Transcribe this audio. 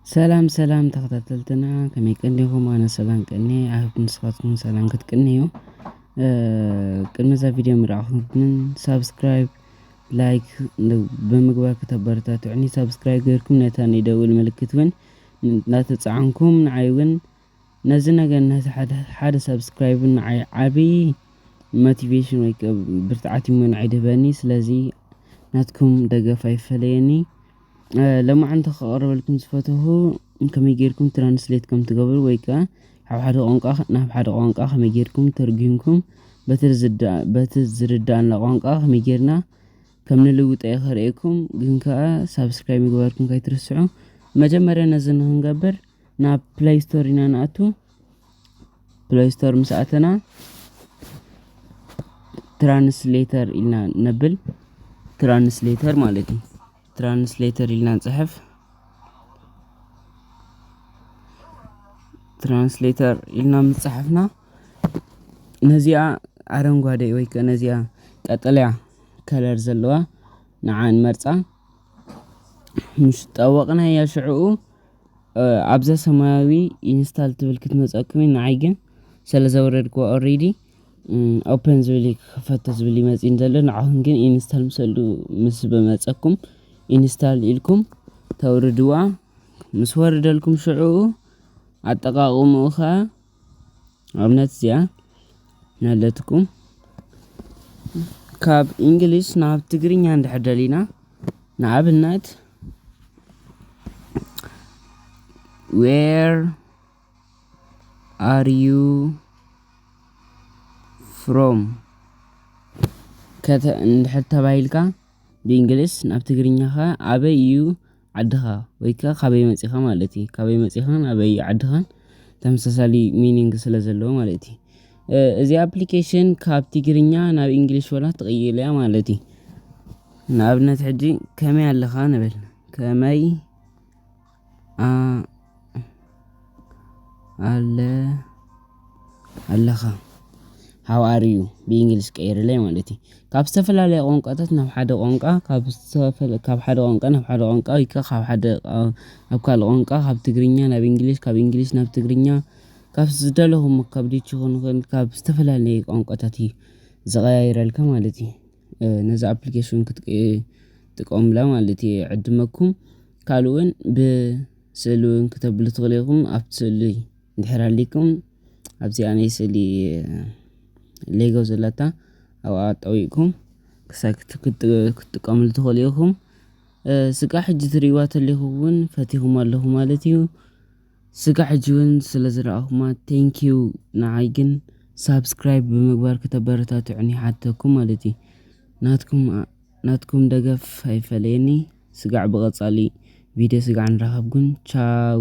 ሰላም ሰላም ተኸታተልትና ከመይ ቀኒኹም? ኣነ ሰላም ቀኒየ ኣይሆፕ ንስኻትኩም ሰላም ክትቅንዩ። ቅድሚ እዛ ቪድዮ ምርኣኹም ግን ሳብስክራይብ ላይክ ብምግባር ክተበረታትዑኒ ሳብስክራይብ ጌርኩም ነታ ናይ ደውል ምልክት እውን እናተፃዓንኩም ንዓይ እውን ነዚ ነገር ነቲ ሓደ ሓደ ሳብስክራይብ ንዓይ ዓቢ ሞቲቬሽን ወይ ብርትዓት እሞ ንዓይ ድህበኒ ስለዚ ናትኩም ደገፍ ኣይፈለየኒ ሎማዓንቲ ከቕርበልኩም ዝፈተኹ ከመይ ጌርኩም ትራንስሌት ከም ትገብሩ ወይ ከዓ ካብ ሓደ ቋንቋ ናብ ሓደ ቋንቋ ከመይ ጌርኩም ተርጒምኩም በቲ ዝርዳእና ቋንቋ ከመይ ጌርና ከም ንልውጠ እየ ከርእየኩም ግን ከዓ ሳብስክራይብ ምግባርኩም ከይትርስዑ መጀመርያ ነዚ ንክንገብር ናብ ፕላይ ስቶር ኢና ንኣቱ ፕላይ ስቶር ምስ ኣተና ትራንስሌተር ኢልና ነብል ትራንስሌተር ማለት እዩ ትራንስሌተር ኢልና ንፅሕፍ ትራንስሌተር ኢልና ምስ ፀሓፍና ነዚኣ ኣረንጓዴ ወይ ከዓ ነዚኣ ቀጠልያ ከለር ዘለዋ ንዓ ንመርፃ። ምስ ጠወቅናያ ሽዕኡ ኣብዛ ሰማያዊ ኢንስታል ትብል ክትመፀኩም ንዓይ ግን ስለ ዘውረድክዋ ኦሬዲ ኦፕን ዝብል እዩ ክኸፈቶ ዝብል እዩ መፂኡኒ ዘሎ ንዓኹም ግን ኢንስታል ምስሉ ምስ በመፀኩም ኢንስታል ኢልኩም ተውርድዋ ምስ ወረደልኩም ሽዕኡ ኣጠቃቅምኡ ኸዓ ኣብነት እዚኣ ነለትኩም ካብ እንግሊዝ ናብ ትግርኛ እንድሕር ደሊና ንኣብነት ዌር ኣር ዩ ፍሮም ከተ እንድሕር ተባሂልካ ብእንግሊዝ ናብ ትግርኛ ከ ኣበይ እዩ ዓድኻ ወይ ከኣ ካበይ መጺኻ ማለት እዩ። ካበይ መጺኻን ኣበይ ዓድኻን ተመሳሳሊ ሚኒንግ ስለ ዘለዎ ማለት እዩ። እዚ ኣፕሊኬሽን ካብ ትግርኛ ናብ እንግሊሽ ወላ ትቕይል እያ ማለት እዩ። ንኣብነት ሕጂ ከመይ ኣለኻ ንበል ከመይ ኣለ ኣለኻ ሃው ኣር ዩ ብእንግሊሽ ቀይርለይ ማለት እዩ ካብ ዝተፈላለየ ቋንቋታት ናብ ሓደ ቋንቋ ካብ ዝተፈላለየ ካብ ሓደ ቋንቋ ናብ ሓደ ቋንቋ ወይ ከዓ ካብ ሓደ ናብ ካልእ ቋንቋ ካብ ትግርኛ ናብ እንግሊሽ ካብ እንግሊሽ ናብ ትግርኛ ካብ ዝደለኹሞ ካብ ዲች ክኾን ይኽእል ካብ ዝተፈላለየ ቋንቋታት እዩ ዝቀያይረልካ ማለት እዩ ነዛ ኣፕሊኬሽን ክትጥቀሙላ ማለት እየ ይዕድመኩም። ካልእ እውን ብስእሊ እውን ክተብሉ ትኽእሉ ኢኹም ኣብቲ ስእሊ እንድሕር ሃሊኩም ኣብዚኣ ናይ ስእሊ ሌጎ ዘላታ ኣብኣ ጠዊቕኩም ክሳብ ክትጥቀምሉ ትኽእሉ ኢኹም ስጋ ሕጂ ትርእይዋ ተለኹ እውን ፈቲኹም ኣለኹ ማለት እዩ ስጋ ሕጂ እውን ስለ ዝረኣኹማ ቴንኪዩ ንዓይ ግን ሳብስክራይብ ብምግባር ከተበረታትዑኒ ይሓተኩም ማለት እዩ ናትኩም ናትኩም ደገፍ ኣይፈለየኒ ስጋዕ ብቀፃሊ ቪድዮ ስጋዕ ንራከብ ግን ቻው።